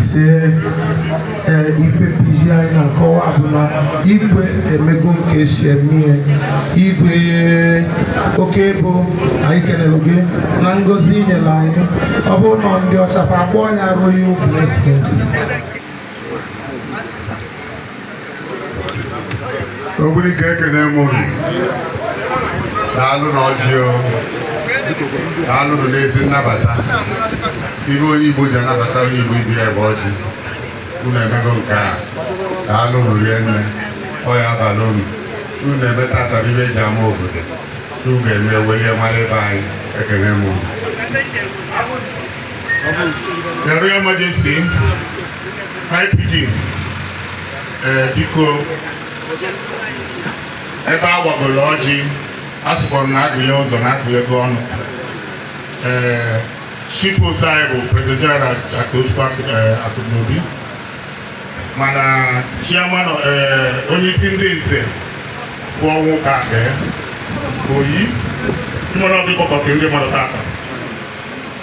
ise ee ife PG anyị na-akọwa bụ na igwe emego nke esi eme igwe okebo anyị kenere gị na ngozi inyere anyị ọ bụrụ na ndị ọcha fa akpọọ ya royal blessings ogbunike ekene m unu daalụ na ọjị o daalụ nụ n'ezi nnabata ife onye igbo ji anabata onye igbo ibe ya bụ ọjị unu emego nke a daalụ nụ rinne ọ ya abalị unu unu na-eme tata bụ ife eji ama obodo unu ga-eme welie mara ebe anyị ekene m unu Your Royal Majesty, High PG, eh, biko ebe a gbagoro ọjị a sịkwa m na agụnye ụzọ na agụnye ego ọnụ ee chief host anyị bụ president general Akụchukwu eh, Akụnobi mana chairman eh, onye isi ndị nze bụ ọnwụka akpa ya oyi mmanụ ọ bụ ị kpọkọsị ndị mmadụ tata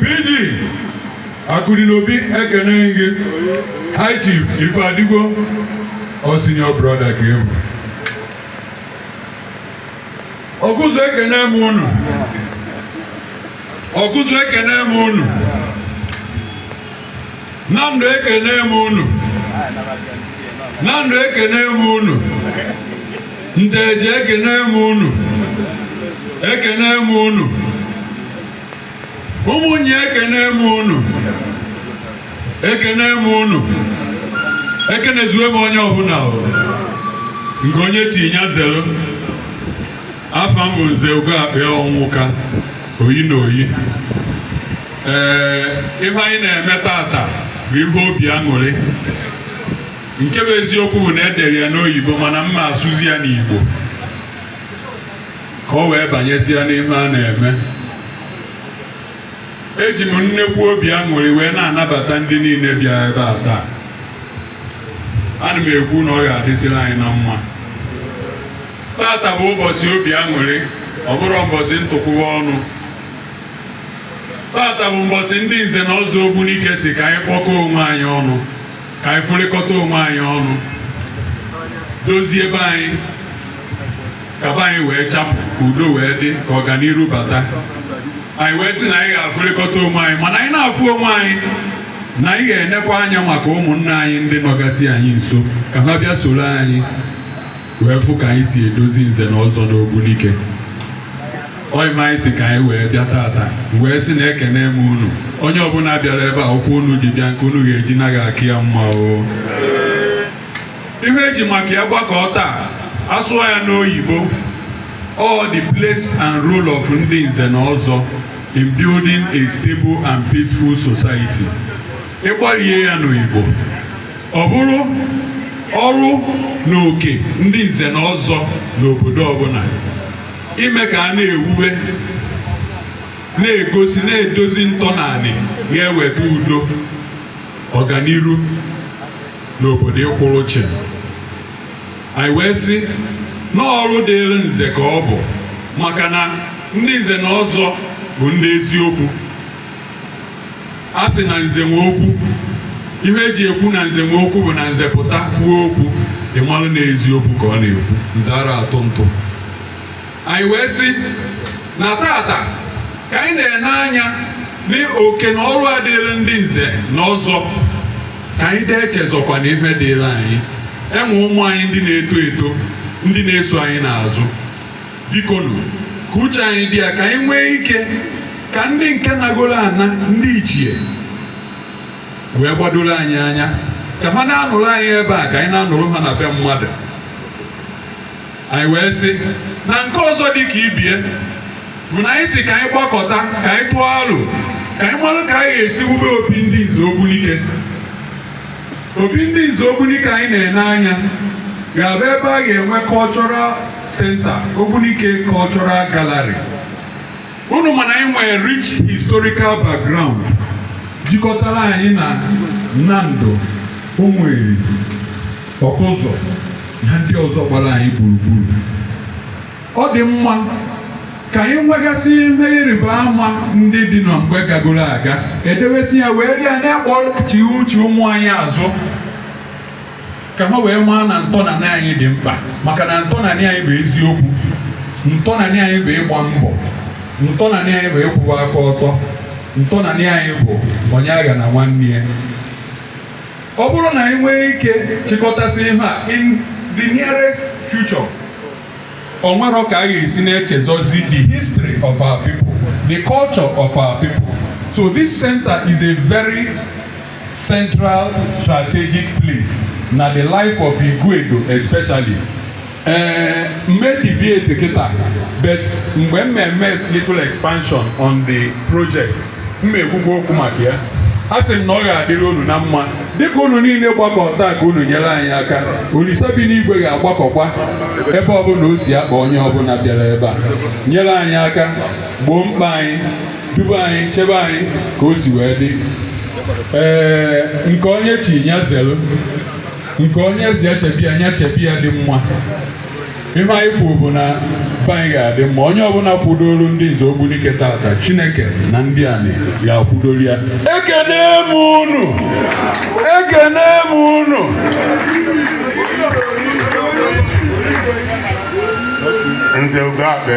PG Akụdịnobi ekene m gị High Chief Ifeadigo ọ senior brother ka ị bụ ọkụzụ ekene m unu ọkụzụ ekene m unu nando ekene m unu nando ekene m unu nteje ekene m unu ekene m unu ụmụnya ekene m unu ekene m unu ekenezuwe m onye ọbụla o nke onye chi nya zelu afa m bụ nze ugo akpịa ọnwụka oyi na oyi ee ife anyị na-eme tata bụ ife obi aṅụrị nke bụ eziokwu bụ na edere ya n'oyibo mana m ma-asụzi ya n'igbo ka o wee banyezie n'ife a na-eme eji m nnekwu obi aṅụrị wee na-anabata ndị niile bịa ebe a taa ana m ekwu na ọ ga-adịsịrị anyị na mma tata bụ ụbọchị obi aṅụrị ọ bụrụ ụbọchị ntụkwụwa ọnụ tata bụ ụbọchị ndị nze na ọzọ ogbunike si ka anyị kpọkọọ onwe anyị ọnụ ka anyị fụrịkọta onwe anyị ọnụ dozie be anyị ka be anyị wee chapụ ka udo wee dị ka ọganiru bata anyị wee sị na anyị ga-afụrịkọta onwe anyị mana anyị na-afụ onwe anyị na anyị ga-enekwa anya maka ụmụnna anyị ndị nọgasị anyị nso ka ha bịa soro anyị wee fụ ka anyị si edozi nze na ọzọ n'Ogbunike ọyịma anyị sị ka anyị wee bịa tata wee sị na ekene m unu onye ọbụla bịara ebe a ụkwụ unu ji bịa nke unu ga-eji naa ga-aka ya mma o ihe eji maka ya gbakọ taa a sụọ ya n'oyibo all the place and role of ndị nze na ọzọ in building a stable and peaceful society ị gbalie ya n'Igbo ọ bụrụ ọrụ na oke ndị nze na ọzọ n'obodo ọbụla ime ka a na-ewube na-egosi na-edozi ntọnanị ga-eweta udo ọganiru na obodo ịkwụrụ chịm anyị wee sị na ọrụ dịịrị nze ka ọ bụ maka na ndị nze na ọzọ bụ ndị eziokwu a sị na nze nwe okwu ihe eji ekwu na nze nwe okwu bụ na nze pụta kwuo okwu ị malụ na eziokwu ka ọ na-ekwu nze ara atụ ntụ anyị wee sị na tata ka anyị na-ene anya n'oke na ọrụ a dịịrị ndị nze na ọzọ ka anyị na-echezọkwa na ife dịịrị anyị e nwee ụmụ anyị ndị na-eto eto ndị na-eso anyị n'azụ bikonu ka uche anyị dị ya ka anyị nwee ike ka ndị nke nagoro ana ndị ichie wee gbadoro anyị anya ka ha na-anụrụ anyị ebe a ka anyị na-anụrụ ha na be mmadụ anyị wee sị na nke ọzọ dị ka ibe ya bụ na anyị sị ka anyị gbakọta ka anyị tụọ aro ka anyị marụ ka anyị ga-esi wube obi ndị nze Ogbunike Obi ndị Nze Ogbunike anyị na-ene anya ga-abụ ebe a ga-enwe cultural center Ogbunike Cultural Gallery. Unu ma na anyị nwere rich historical background jikọtara anyị na Nando Ụmụeri Ọkụzụ na ndị ọzọ gbara anyị gburugburu. Ọ dị mma ka anyị nwegasị ihe ịrịba ama ndị dị na mgbe gagoro aga e dewesị ya wee ji ya na-akpọchi uche ụmụ anyị azụ ka ha wee maa na ntọnanị anyị dị mkpa maka na ntọnanị anyị bụ eziokwu ntọnanị anyị bụ ịgba mbọ ntọnanị anyị bụ ịkwụwa aka ọtọ ntọnanị anyị bụ onye aghana nwanne ya ọ bụrụ na anyị nwee ike chịkọtasị ihe a in the nearest future o nwerọ ka a ga-esi na-echezọzi the history of our people the culture of our people so this center is a very central strategic place na the life of Iguedo especially ee m ma-edeviate kịta but mgbe m na-eme little expansion on the project m na-ekwukwa okwu maka ya a sị m na ọ ga-adịrị unu na mma dịka unu niile gbakọ taa ka unu nyere anyị aka olisa bi n'igwe ga-agbakọkwa ebe ọbụla o si akpa onye ọbụla bịara ebe a nyere anyị aka gboo mkpa anyị duba anyị chebe anyị ka o si wee dị ee nke onye chi nya zelu nke onye ezi echebi ya nya chebi ya dị mma ihe anyị kwuru bụ na be anyị ga-adị mma onye ọbụla kwudoro ndị nze ogbunike tata chineke na ndị anyị ga-akwudoro ya ekene m unu ekene m unu nze ugo akpe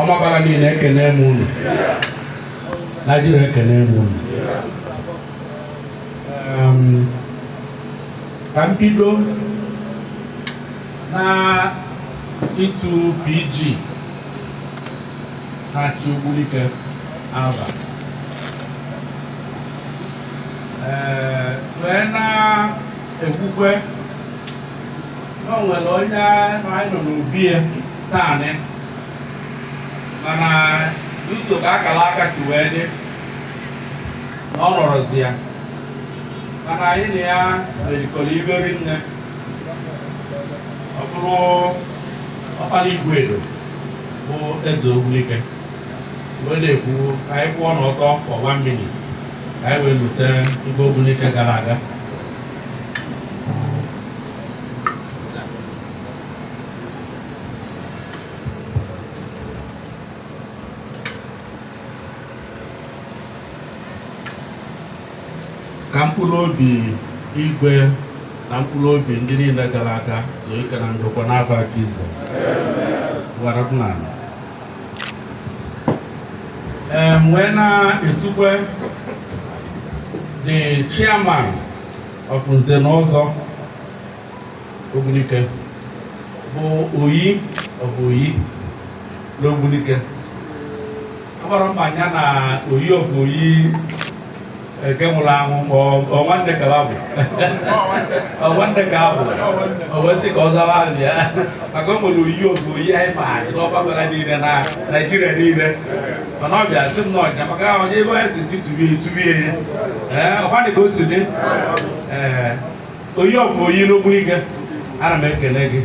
ọmabala niile ekene m unu naijiria ekene m unu Em, ka m bido na ịtu pg na-achị ogbunike afa Ee, wee na-ekwukwe na o nwere onye anyị nọ n'obi ya taanị mana n'ụzọ ka akara aka si wee dị na ọ nọrọzi ya mana anyị na ya merikọrọ iberi nne ọ bụrụ ọkpara igwe edo bụ eze ogbunike wee na-ekwu ka anyị kwụọ n'ọtọ for one minute ka anyị wee lote igwe ogbunike gara aga ka mkpụrụ obi igwe na mkpụrụ obi ndị niile gara aga zuo ike na ndokwa n'afa Jizọs amen Em, wee na-etukwe the chairman of nze na ọzọ ogbunike bụ oyi of oyi n'ogbunike amarọ m ma nya na oyi of oyi nke nwụrụ anwụ ma ọ nwanne ka abụ ọ nwanne ka abụ o kwesị ka ọ zawa afa ya maka o nwere oyi of oyi anyị maara n'ọmabala niile na naijiria niile mana ọ bịa sị m na ọnya maka ahụ onye ebe anyị si gị tubie tubie ya ee ọkwa dị ka o si dị ee Oyi of Oyi n'Ogbunike ana m ekele gị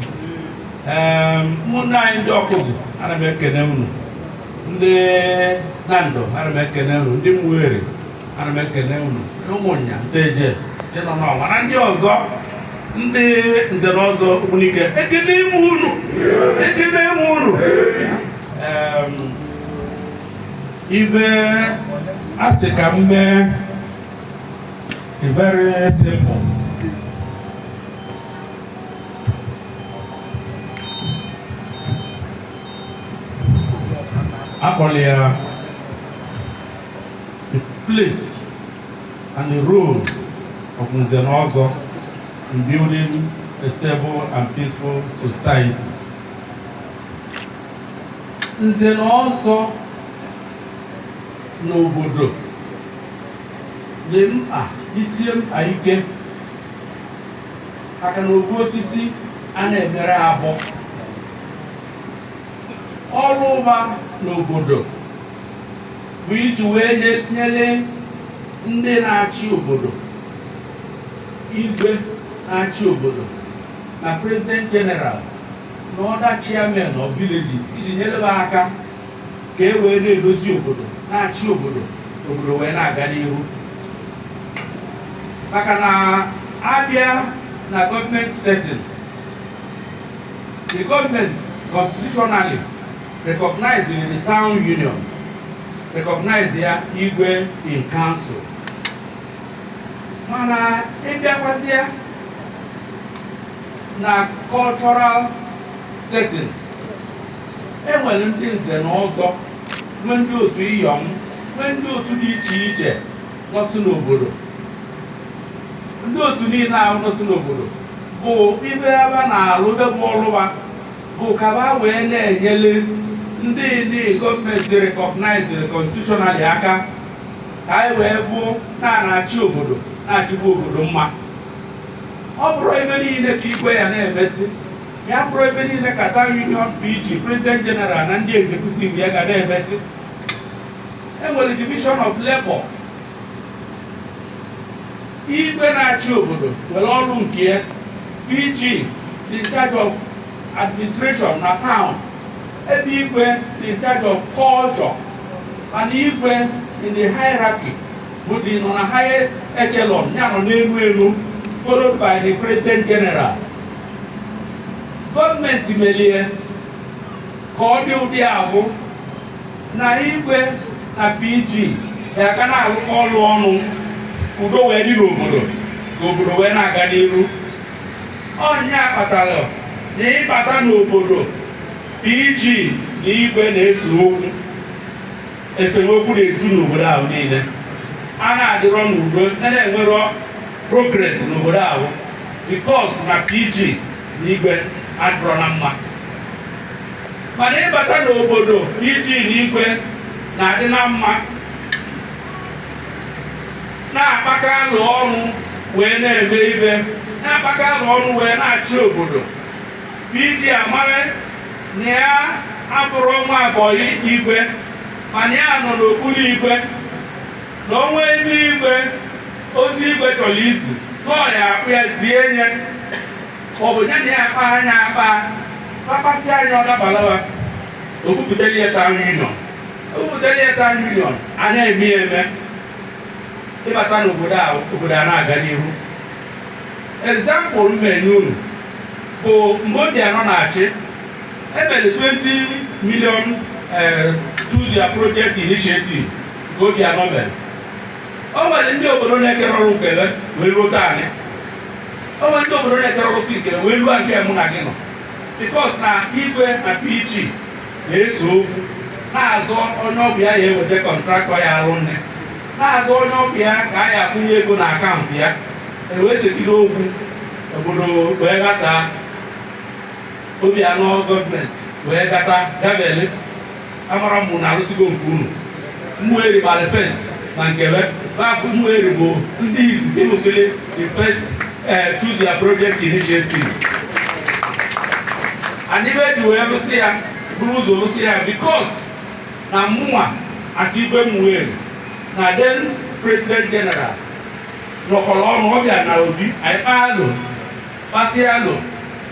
ee ụmụnne anyị ndị Ọkụzụ ana m ekele unu ndị Nando ana m ekele unu ndị Ụmụeri ana m ekele unu Ụmụnya Nteje ndị nọ n'ọnwa na ndị ọzọ ndị nze na ọzọ Ogbunike ekelee m unu ekelee m unu ife a sị ka m mee very simple a kpọrọ ya the place and the role of Nze na Ọzọ in building a stable and peaceful society. nze na ọzọ n'obodo dị mkpa dịsie mkpa ike maka na ofu osisi a na-emere agụ ọrụ fa n'obodo bụ iji wee nye- nyere ndị na-achị obodo igwe na-achị obodo na president general na other chairmen of villages iji nyere ha aka ka e wee na-edozi obodo na-achị obodo obodo wee na-aga n'ihu maka na a bịa na government setting the government constitutionally recognizing the town union recognize ya igwe in council mana ị bịakwazịa na cultural setting e nwere ndị nze na ọzọ nwee ndị otu iyọm nwee ndị otu dị iche iche nọsị n'obodo ndị otu niile ahụ nọsị n'obodo bụ ife fa na-alụ ife bụ ọlụ fa bụ ka ha wee na-enyere ndị ndị gọọmenti recognized constitutionally aka ka anyị wee bụ na-achị obodo na-achịkwa obodo mma ọ bụrọ ife niile ka igwe ya na-emesịa ọ bụrọ ife niile ka Town Union PG President General na ndị executive ya ga na-emesị e nwere division of labor igwe na-achị obodo nwere ọrụ nke ya PG dị in charge of administration na town ebe igwe dị in charge of culture and igwe in the hierarchy bụ ndị nọ na highest echelon ya nọ n'elu elu followed by the president general gọọmenti melie ka ọ dị ụdị ahụ na igwe na pg ya ka na-alụkọ ọlụ ọnụ udo wee dị n'obodo ka obodo wee na-aga n'iru ọ nya kpatara na ị bata n'obodo pg na igwe na-ese okwu Esemokwu na-eju n'obodo ahụ niile. A na-adịrọ n'udo, a na-enwerọ progress n'obodo ahụ because na PG na Igwe adịrọ na mma. Mana ị bata n'obodo PG na Igwe na-adị na mma, na-akpakọ alo ọnụ wee na-eme ife, na-akpakọ alo ọnụ wee na-achị obodo. PG amara na ya abụrọ nwa bọyị igwe mana ya nọ n'okpuru igwe na o nwee ebe igwe ozi igwe chọrọ izi na ọ ya-akpọ ya zie nye ọ bụ ya na ya akpaa nya akpa kpakpasịa nya ọ dabalawa o bupụtara ya town union o bupụtara ya town union a na-eme ya eme ị bata n'obodo a obodo a na-aga n'ihu example m na-enye unu bụ mgbe obiano na-achị e mere 20 million eh, choose your project initiative nke obiano mere o nwere ndị obodo na-ekerọ rụ nke ve wee ruo taanị o nwere ndị obodo na-ekerọ rụsị nke ve wee ruo nke mụ na gị nọ because na igwe na pg na-ese okwu na-azọ onye ọ bụ ya ya-eweta contractor ya-alụ nye na-azọ onye ọ bụ ya ka a ya-akwụnye ego na akaụntụ ya e wee segide okwu obodo wee ghasaa obiano gọọmenti wee gata gabe amarọ m na a rụsịgo nke unu ụmụeri gbara first na nke ve bapụ ụmụeri bụ ndị izizi rụsịrị the first eh, choose your project initiative and ife e ji wee rụsị ya buru ụzọ rụsị ya because na mụnwa as igwe ụmụeri na then president general nọkọrọ ọnụ ọ bịa na obi anyị kpaa alo kpasịa alo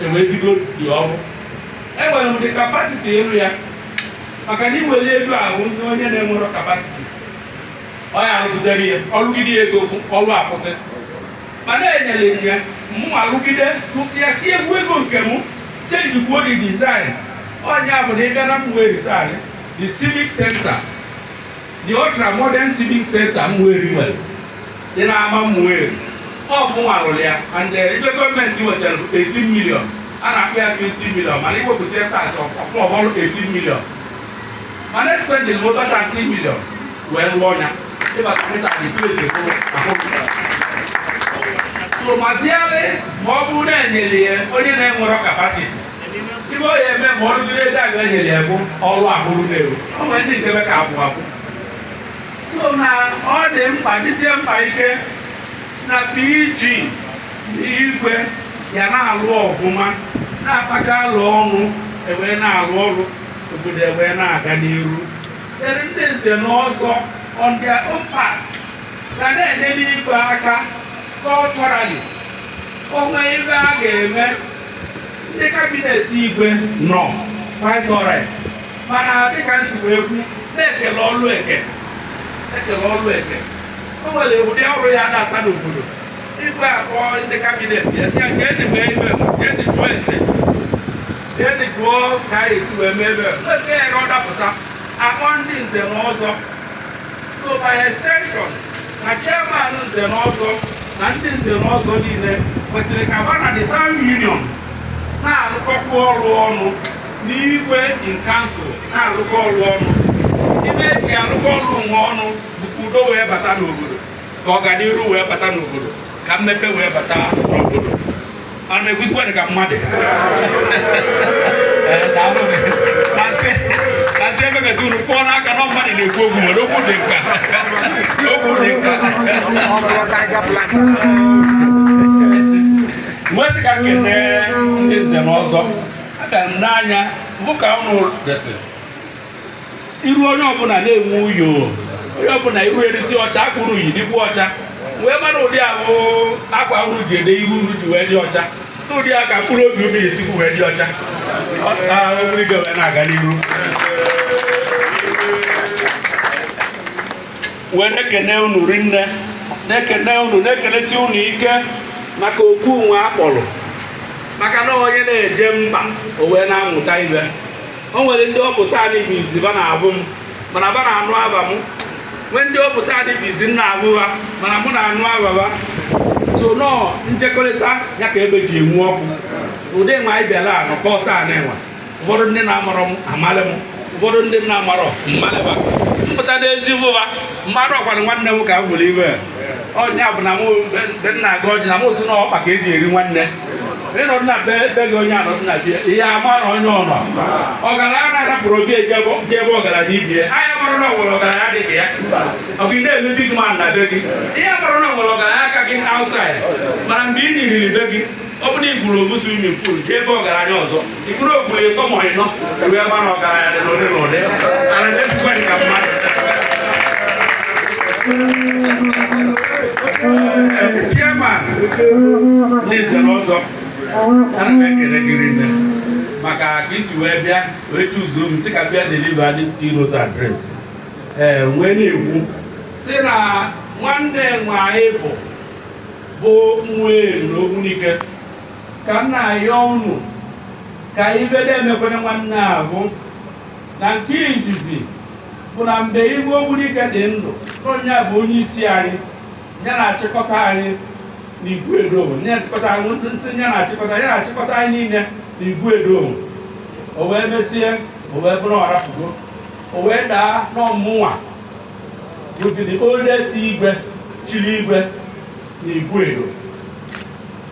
e wee bido the ọrụ enwere m the capacity ịrụ ya maka na i weli ego ahụ nye onye na-enwerọ capacity ọ ya-arụgidere ya ọ rụgide ya ego ọrụ akwụsị mana e nyere m ya mụ arụgide rụsịa tiekwuo ego nke m change kwuo the design ọ nya bụ na ị bịa na ụmụeri taa the civic center The Ultra Modern Civic Center Umueri nwere dị n'ama Umueri ọ bụ mụnwa rụrụ ya and eh, ibe gọọmenti wetara bụ 18 million a na-akpọ ya 20 million mana iwepụsị ya tax ọ bụrụ 18 million mana expended bụ over 30 million wee rụọ ya ịbata kịta the place bụ ahụpụtara so maziale ma ọ bụrụ na enyere ya onye na-enwerọ capacity ibe ọ ya eme ma ọrụ dịrị ego aga enyere ya bụ ọrụ abụrụ na-eru o nwere ndị nke ka abụ abụ so na ọ dị mkpa dịsie mkpa ike na PG na igwe ya na-alụ ọfụma na-akpakọ alo ọnụ e wee na-alụ ọrụ obodo e wee na-aga n'iru ere ndị nze na ọzọ on their own part ga na-enyere igwe aka culturally o nwee ibe a ga-eme ndị kabinet igwe nọ quite alright mana dịka m si wee kwu na e kele ọlụ eke e kele ọlụ eke o nwere ụdị ọrụ ya adata n'obodo igwe akpọọ ndị kabinet ya sị ya ka anyị mee ibe m, ka anyị jụọ ese ka anyị jụọ ka anyị esi wee mee ibe m. nke ya ka ọ dapụta akpọọ ndị nze na ọzọ so by extension na chairman nze na ọzọ na ndị nze na ọzọ niile kwesịrị ka ha na the town union na-arụkọkwa ọrụ ọnụ na igwe in council na-arụkọ ọrụ ọnụ ibe eji arụkọ ọrụ nwe ọnụ bụ ka udo wee bata n'obodo ka ọganiru wee bata n'obodo ka mmepe wee bata n'obodo ana m ekwuzikwa dị ka mmadụ kasị emekata unu kpụọ n'aka na mmadụ na-ekwu okwu nwere okwu dị nka okwu dị nka m wee sị ka m kene ndị nze na ọzọ aga m n'anya bụ ka unu desịrị iru onye ọbụla na-enwe uyo onye ọbụla iru erisi ọcha akwa unu yi dịkwu ọcha wee mara ụdị ahụ akwa unu ji ede iru unu ji wee dị ọcha n'ụdị a ka mkpụrụ obi unu esikwu wee dị ọcha ọrụ ige wee na-aga n'iru wee na-ekene unu rinne na-ekene unu na-ekenesi unu ike maka oku nwe a kpọrọ maka na onye na-eje mba o wee na-amụta ibe o nwere ndị ọ bụ taanị bụ izi ba na-abụ m mana ba na-anụ aba m nwee ndị ọ bụ taanị bụ izi m na-abụ ba mana mụ na-anụ aba ba so na ọ njekọrịta ya ka ebe ji enwu ọkụ ụdị nwa anyị bịara anọkọ taa na-enwe ụfọdụ ndị na-amarọ m amalị m ụfọdụ ndị m na-amarọ m malị ba m pụta n'ezi bụba mmadụ ọ kwa nwanne m ka m nwere iwe ọ nya bụ na mụ be nna aga ọjị na mụ si na ọkpa ka eji eri nwanne ịnọdụ na be be gị onye anọdụ na bie ihe ama na onye ọnọ ọgaranya na-arapụrụ obi eje ebe- je ebe ọgaranya ibie anya mara na o nwere ọgaranya dị ka ya ọ gị na-eme big man na be gị ị marọ na o nwere ọgaranya ka gị outside mana mgbe ị nyiriri be gị ọ bụrụ na ị gwuru ofu swimming pool jee ebe ọgaranya ọzọ Ikpuru o gwuru ịtọ ma ịnọ ruo ebe a na ọgaranya dị n'ụdị n'ụdị ara na-esikwa dị ka mmadụ chairman nze na ọzọ ana m ekele gị rinne maka ka isi wee bịa wee chụzuo m si ka bịa deliver this keynote address ee wee na-ekwu si na nwanne nwaanyị bụ bụ nwa eri na ogbunike ka m na-ayọ unu ka ife na-emekwere nwanne ahụ na nke izizi bụ na mgbe igwe ogbunike dị ndụ onye bụ onye isi anyị ya na-achịkọta anyị na iguedo ya na-achịkọta anyị nsị ya na-achịkọta ya na-achịkọta anyị niile na iguedo o wee mesie o wee bụrụ ọ rapụgo o wee daa na ọ mụnwa bụzi the oldest igwe chiri igwe na iguedo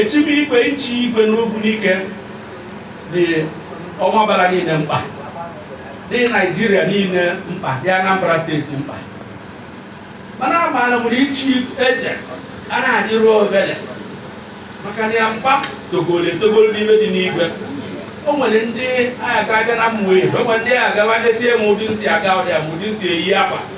echibe igwe ichi igwe n'ogbunike dị ọmambala niile mkpa dị naijiria niile mkpa dị anambra steeti mkpa mana amaara m na ichi eze a na-adịrọ ofele maka na ya mkpa togoro etogoro n'ime dị n'igwe o nwere ndị agha aga na mmụọ ihe o nwere ndị agha gawa ndesie m ụdị m si aga ọdịa m ụdị m si eyi akwa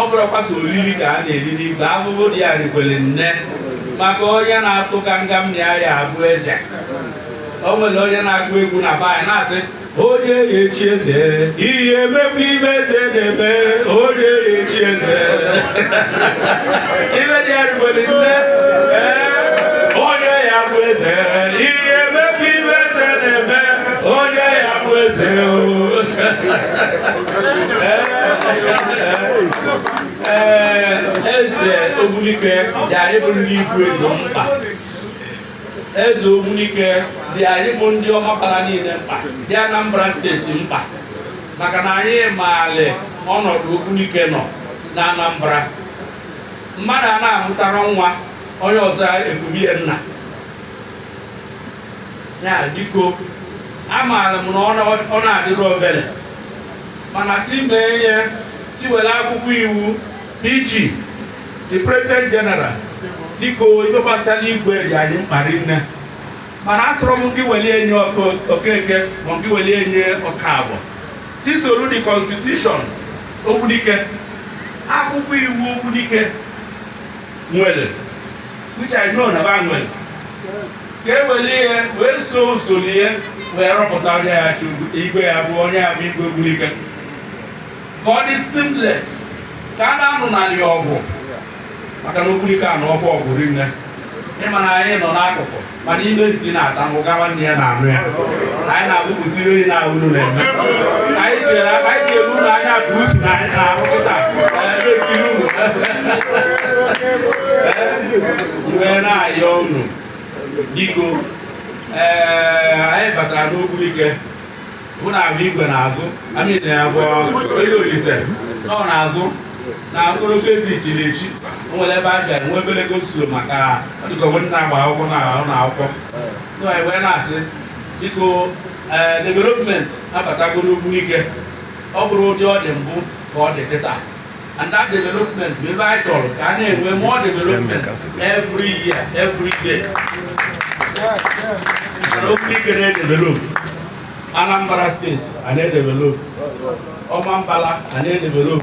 ọ bụrọkwa sọ oriri ka a na-eri n'igwe ahụhụ dị ya rikwere nne maka onye na-atụ ka nga m ya ya abụ eze o nwere onye na-agụ egwu na be anyị na-asị onye ya echi eze ya emekwa ife eze na-eme onye ya echi eze ife dị ya rikwere nne ee onye ya bụ eze ya emekwa ife eze na-eme onye ya bụ eze o ee eze ogbunike dị anyị bụ ndị iguedo mkpa eze ogbunike dị anyị bụ ndị ọmambala niile mkpa dị anambra steeti mkpa maka na anyị maali ọnọdụ ogbunike nọ na anambra mmadụ a na-amụtarọ nwa onye ọzọ ekubie nna ya biko amaara m na ọ na- ọ na-adịrọ ofele mana si mee ihe si were akwụkwọ iwu PG the president general biko ife gbasara igwe dị anyị mkpa rinne mana asịrọ m gị weli enye ọkụ- okeke ma gị weli enye okafọ si soro the constitution ogbunike akwụkwọ iwu ogbunike nwere which I know na ba nwere ka e were ihe wee so usoro ihe wee rọpụta onye ya-achị igwe ya bụ onye ya-abụ igwe Ogbunike ka ọ dị seamless ka a na-anụ n'ala ya ọgwụ maka na Ogbunike a na ọgwụ ọgwụ rinne ịma na anyị nọ n'akụkụ mana ime ntị na-ata mụ ga nwanne ya na-anụ ya anyị na-abụpụsi ihe na unu na-eme anyị tinyere aka anyị tinyere unu anya ka usu na anyị na-arụ kịta e wee na-ayọ unu biko ee anyị batara n'Ogbunike mụ na abụ igwe n'azụ amị na ya bụ onye olise nọ n'azụ na ogologo ezi ichiri echi o nwere ebe a bịara nwe obere go-slow maka ọ dịka o nwe ndị na-agba akwụkwọ na ụlọ akwụkwọ so anyị wee na-asị biko ee development abatago n'Ogbunike ọ bụrụ ụdị ọ dị mbụ ka ọ dị kịta and that development bụ ebe anyị chọrọ ka a na-enwe more development every year every day mana Ogbunike na-edevelop Anambra steeti a na-edevelop Ọmambala a na-edevelop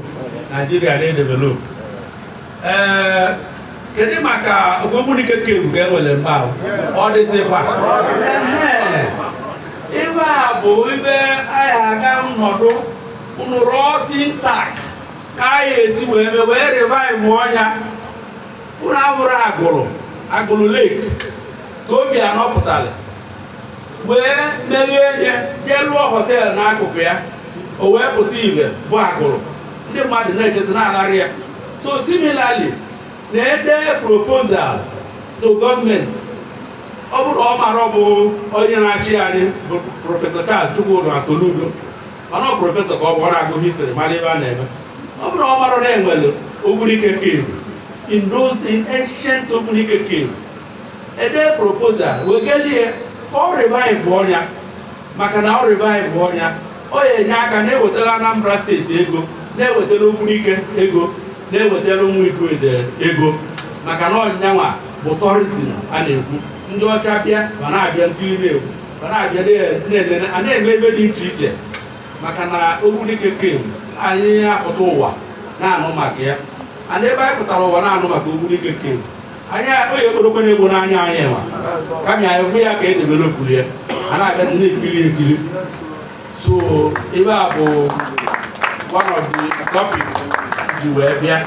Naijiria na-edevelop ee kedu maka Ogbunike cave ka enwere mgbe ahụ ọ dịzịkwa Ehe. ebe a bụ ebe anyị ga-anọdụ unu rụọ think tank ka anyị esi wee mee wee revive ọnya unu ahụrụ Agụlụ Agụlụ Lake ka Obiano pụtara wee meghee nye jee lụọ họteelụ n'akụkụ ya o wee pụta ibe bụ Agụlụ ndị mmadụ na-ejezi na-anarị ya so similarly na e dee proposal to gọọmenti ọ bụrụ ọ mara ọ bụ onye na-achị anyị bụ prọfesọ Charles Chukwuma Soludo mana ọ prọfesọ ka ọ bụ ọ na-agụ history mara ebe a na-eme ọ bụrụ ọ mara na enwere Ogbunike cave in those in ancient Ogbunike cave e dee proposal wegelie ka ọ revive ọnya maka na ọ revive ọnya ọ ya-enye aka na-ewetara Anambra steeti ego na-ewetara Ogbunike ego na-ewetara Ụmụ Iguedo ego maka na ọnyanwa bụ tourism a na-ekwu ndị ọcha bịa ma na-abịa nkiri na-ekwu ma na-abịa na-elele a na-eme ihe dị iche iche maka na Ogbunike cave anyị apụta ụwa na-anụ maka ya and ebe anyị pụtara ụwa na-anụ maka Ogbunike cave anyị onye ekporokwe na-egbo n'anya anyị nwa kama anyị hụ ya ka e developụrụ ya a na-abịa na-ekiri ekiri so ebe a bụ one of the topic ji wee bịa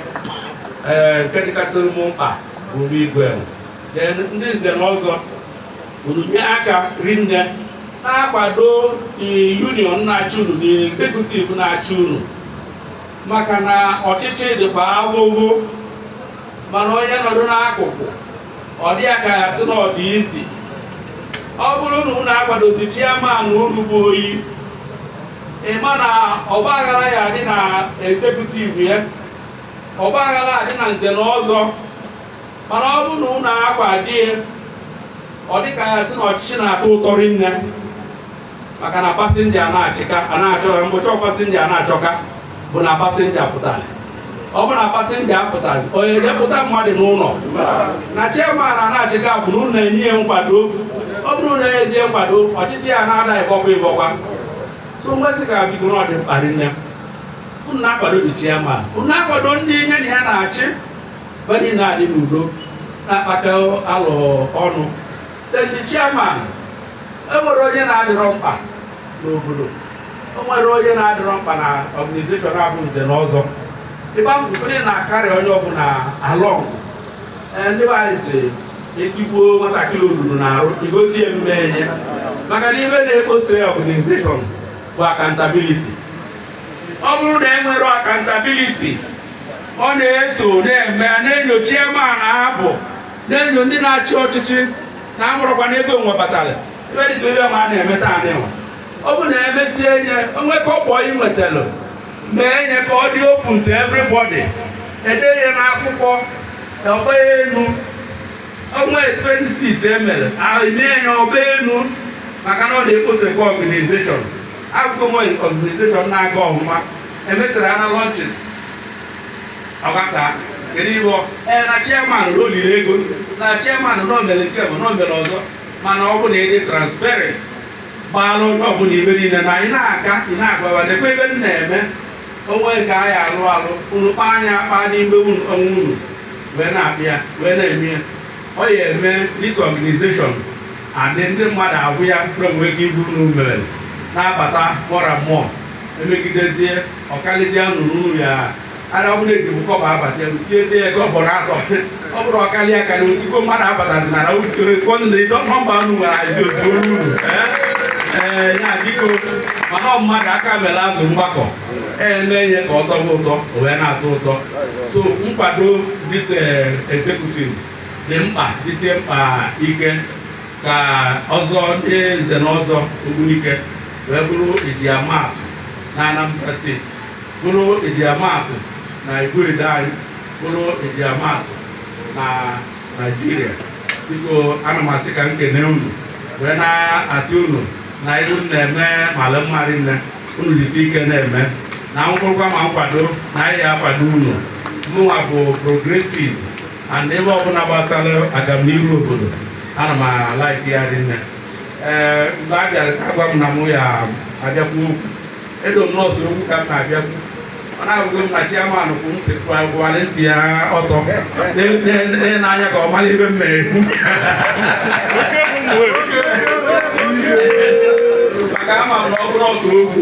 ee nke dịkasịrị m mkpa bụ igwe then ndị nze na ọzọ unu nye aka rinne na-akwado union na-achị unu na executive na-achị unu maka na ọchịchị dịkwa avụvụ mana onye nọdụ n'akụkụ ọ dị ya ka a sị na ọ dị easy ọ bụrụ na unu akwadozi chairman unu bụ oyi ị ma na ọgbaghara ya-adị na executive ya ọgbaghara adị na nze na ọzọ mana ọ bụrụ na unu akwado ya ọ dị ka a sị na ọchịchị na-atọ ụtọ rinne maka na pasenja na-achịka a na-achọ mgbochi pasenja na-achọka bụ na pasenja pụtara ọ bụ na pasenja apụtazi onye jepụta mmadụ n'ụlọ na chairman a na-achịka bụ na unu na-enye ya nkwado ọ bụrụ na ezie nkwado ọchịchị ya na-ada ịbọkwa ịbọkwa so mgbesị ka biko na ọ dị mkpa rinne unu na-akwado the chairman unu na-akwado ndị nye na ya na-achị Ba dị na-adị n'udo na-akpakọ alo ọnụ. Then the chairman, e nwerọ onye na-adịrọ mkpa n'obodo. E nwerọ onye na-adịrọ mkpa na organization a bụ Nze na Ọzọ. Ịgba mbọ fụ na a carry onye ọbụla along. Ee, ndị be anyị si etigbuo nwatakịrị olulu n'arụ egosi ya mmee nye maka na ibe na-ekposa organization bụ accountability ọ bụrụ na e nwere accountability ọ na-eso na-eme na-enyo chairman ma ọ bụ na-enyo ndị na-achị ọchịchị na amụrụkwa na ego nwe batara ebe dịka ebe ma a na-eme taa nịwa ọ bụ na emesie nye o nwee kọbọ ị nwetalụ mee nye ka ọ dị open to everybody e dee ya n'akwụkwọ ọ gbaa enu o nwee expenses e mere e mee ya ọ gbaa enu maka na ọ na-ekposekwa organization akụkọ nwe organization na-aga ọvụma emesịrị a na launching agbasa kedu ibe ọ ee na chairman na o lili ego na chairman na o mere nke bụ na o mere ọzọ mana ọ bụ na ị dị transparent gbaala onye ọbụla ibe niile na anyị na-aga ị na-agwa wa nekwa ebe m na-eme o nwee nke anyị alụ alụ unu kpaa nya akpa n'ime unu onwe unu wee na-abịa wee na-eme ya ọ ya eme this organization Adị ndị mmadụ ahụ ya kpre nwere ike iburu na umere na-abata more and more emegidezie ọkalizie anụrụ unu ya ara ọ bụla ejibu kọbọ abata elu tiezie ya kọbọ na atọ ọ bụrụ ọkali akali osikwo mmadụ abatazi na kọnụna ịdọ nọmba unu nwere azi otu olu unu ee ya biko mana ọ mmadụ aka mere azụ mgbakọ eme ihe ka ọ tọba ụtọ o wee na-atọ ụtọ so nkwado this executive dị mkpa dịsie mkpa ike ka ọzọ ndị nze na ọzọ Ogbunike wee bụrụ e ji ama atụ na Anambra steeti bụrụ e ji ama atụ na Iguedo anyị bụrụ e ji ama atụ na Naịjirịa biko ana m asị ka m kene unu wee na-asị unu na ife unu na-eme mara mma rinne unu jisi ike na-eme na ọ bụrụkwa ma nkwado na anyị ya-akwado unu mụnwa bụ progressive and ife ọbụla gbasara agamnihu obodo ana m a-like ya rinne ee mgbe a bịara ka a gwa m na mụ ya-abịa kwuo okwu elo m na ọ sọ okwu ka m na-abịa ikwu ọ na-abụghị m na chairman kwụ ntị kwụgharị ntị ya ọtọ n'anya ka ọ mara ife m na-ekwu maka ama m na ọ bụrọ sọ okwu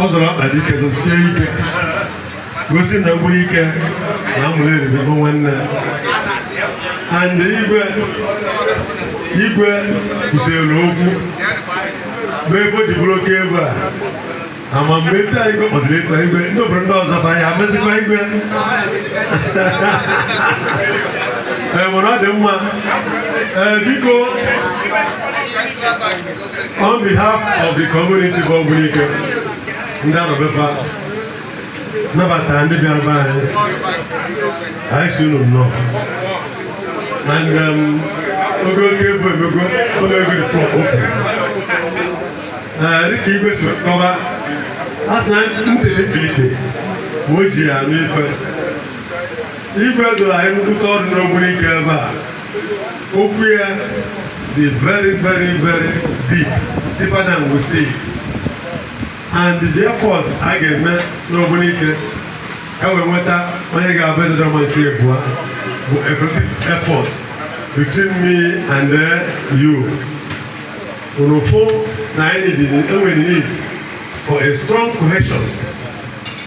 ọ zọrọ ọkpa dị ike zọsie ike gosi na Ogbunike na Ụmụleri bụ nwanne and igwe igwe kwusịrị okwu bụ ebe o ji bụrụ Okebo a ama mgbe etu anyị igwe kpọziri etu igwe ndị obodo ndị ọzọ bụ anyị amezikwa igwe ee mana ọ dị mma ee biko On behalf of the community bụ Ogbunike, ndị nọ ebe a nabatara ndị bịara be anyị anyị sị unu nnọọ and um, Igwe Okebo emego ụlọ ego the floor open dịka igwe si kọba a sị na ntele mbilite ma o ji ya anụ ife igwe doro anyị nkwụta ọrụ n'Ogbunike ebe a Okwu ya dị very very very deep deeper than we see it and the effort a ga-eme n'Ogbunike e wee nweta onye ga-abụ Ezedịọramma nke abụọ bụ a collective effort between me and uh, you unu fụ na anyị nwere need for a strong cohesion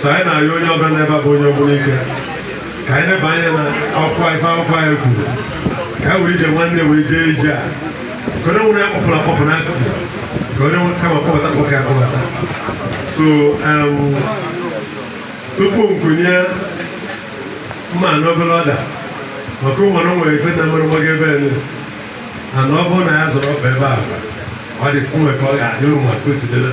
so anyị na-ayọ onye ọbụla nọ ebe a bụ onye Ogbunike ka anyị neba anya na akwụkwọ ife akwụkwọ anyị kwuru ka anyị were ije nwanne wee jee ije a ka onye nwere ya kpọpụrụ akpọpụ n'akụkụ ka onye nwere kama kpọbata kpọka ya kpọbata so um, tupu m kunye mma n'ọbọ ọda maka ụmụrụ nwere ife na mmerụmọ gị ebe elu ana ọ bụrụ na ya zọrọ ọkpa ebe a ọ dị mwe ka ọ ga-adị ụmụ ma kwesịdịrị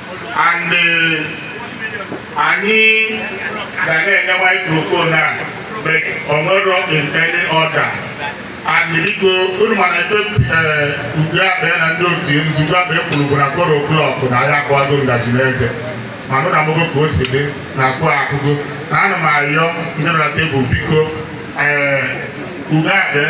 and eh, anyị ga na-enye microphone a but ọ nọrọ in any order and biko unu ma na ife eh, ugo abịa na ndị otu nzukọ abịa kwuru bụ na four o'clock na ya akụwago ngaji n'eze mana unu afụgo ka o si dị na four akụgo na ana m arịọ ndị nọ na tebụl biko ee eh, ugo abịa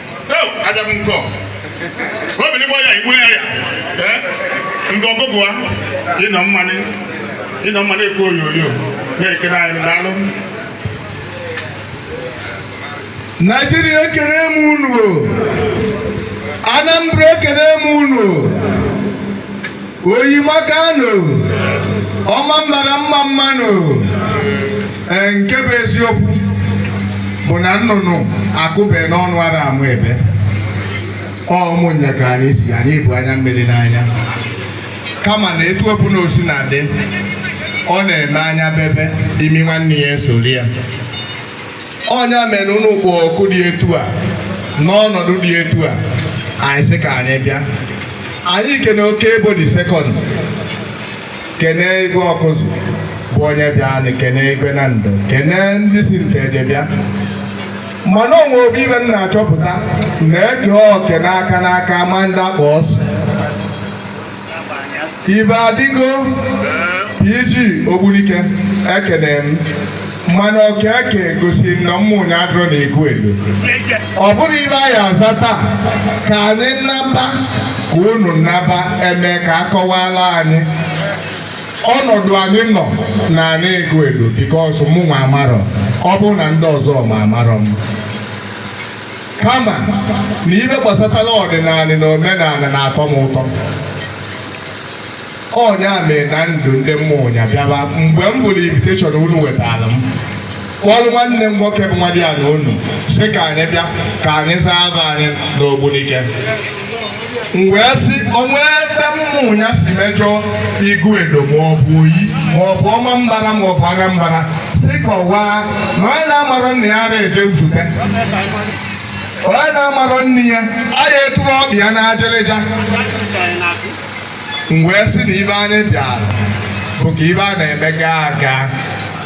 abịa m nke obili gbọ ya igbu ya ya ndị ọgụgụ a ịnọ mmanụ ịnọ mmanụ ekwu onyonyo na-ekiri anyị n'anị naijiria ekene m unu anambra ekene m unu oyi makano ọmambala mma mma nụ ee nke bụ eziokwu bụ na nnụnụ akụbe n'ọnụ ara amụ ebe ọ ụmụnya ka anyị si anyị bu anya mmiri n'anya kama na etu ọbụna o sina dị ọ na-eme anya bebe imi nwanne ya esoro ya ọ nya mere unu kpọọ oku dị etu a n'ọnọdụ dị etu a anyị sị ka anyị bịa anyị kene okebo the second kene igwe ọkụzụ bụ onye bịa anyị kene igwe nando kene ndị si nteje bịa mana o nwe ofu ife m na-achọpụta na e kee oke n'aka n'aka a ma ndị a kpọ asị ibe adịgo PG Ogbunike ekene m mana oke e ke gosiri na ụmụnya adịrọ na iguedo ọ bụrụ ife a ya-aza taa ka anyị naba ka unu naba e mee ka a kọwaala anyị ọnọdụ anyị nọ n'anị iguedo because mụ nwa amarọ ọ bụrụ na ndị ọzọ ma amarọ m kama na ife gbasatara ọdịnanị na omenanị na-atọ m ụtọ ọ nya mere na m du ndị ụmụnya bịaba mgbe m fụrụ invitation unu wetara m kpọrọ nwanne m nwoke bụ nwadịanị unu sị ka anyị bịa ka anyị zaa afa anyị n'ogbunike m wee sị o nwe ebe ụmụnya si mejọ iguedo ma ọ bụ oyi ma ọ bụ ọmambala ma ọ bụ anambra sị kọwaa na onye na-amarọ nna ya ara eje nzute onye na-amarọ nne ya a ya eturu ọbịa na ajerịja m wee sị na ife anyị bịara bụ ka ife a na-eme gaa aga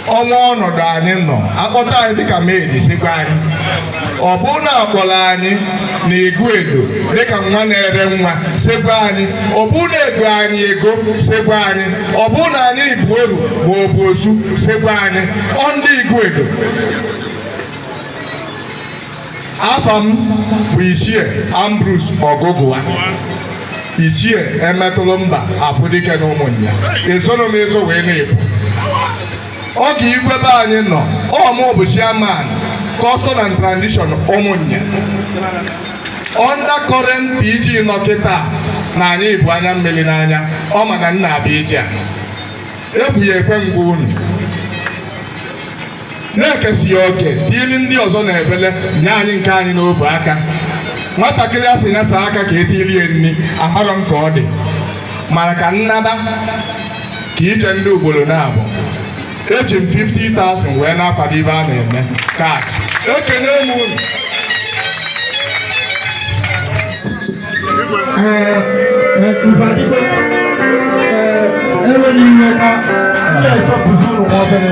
o nwe ọnọdụ anyị nọ a kpọta anyị dịka maid sị gwa anyị ọ bụrụ na a kpọrọ anyị na iguedo dịka nwa na-ere nwa sị gwa anyị ọ bụrụ na e go anyị ego sị gwa anyị ọ bụrụ na anyị bụ oru ma ọ bụ osu sị gwa anyị ọ ndị iguedo afa m bụ ichie Ambrose Ọgụgụwa ichie emetụlụ mba afụ dike na Ụmụnya esoro m eso wee na-ebu oge igwe be anyị nọ ọ mụ bụ chairman custom and tradition Ụmụnya under current PG nọ kịta na anyị bu anya mmiri n'anya ọ ma na nna abịa ije a ebu ya ekwe ngwa unu na-ekesịa oke tiiri ndị ọzọ na-ebele nye anyị nke anyị n'obu aka nwatakịrị a sị nya saa aka ka etiri ya nri amarọ m ka ọ dị mana ka nnaba ka ije ndị ugboro naabọ eji m 50,000 wee na-akwado ife a na-eme kat ekene m unu ewena iwe ka ndị esọpụzi ụlọ nwa obere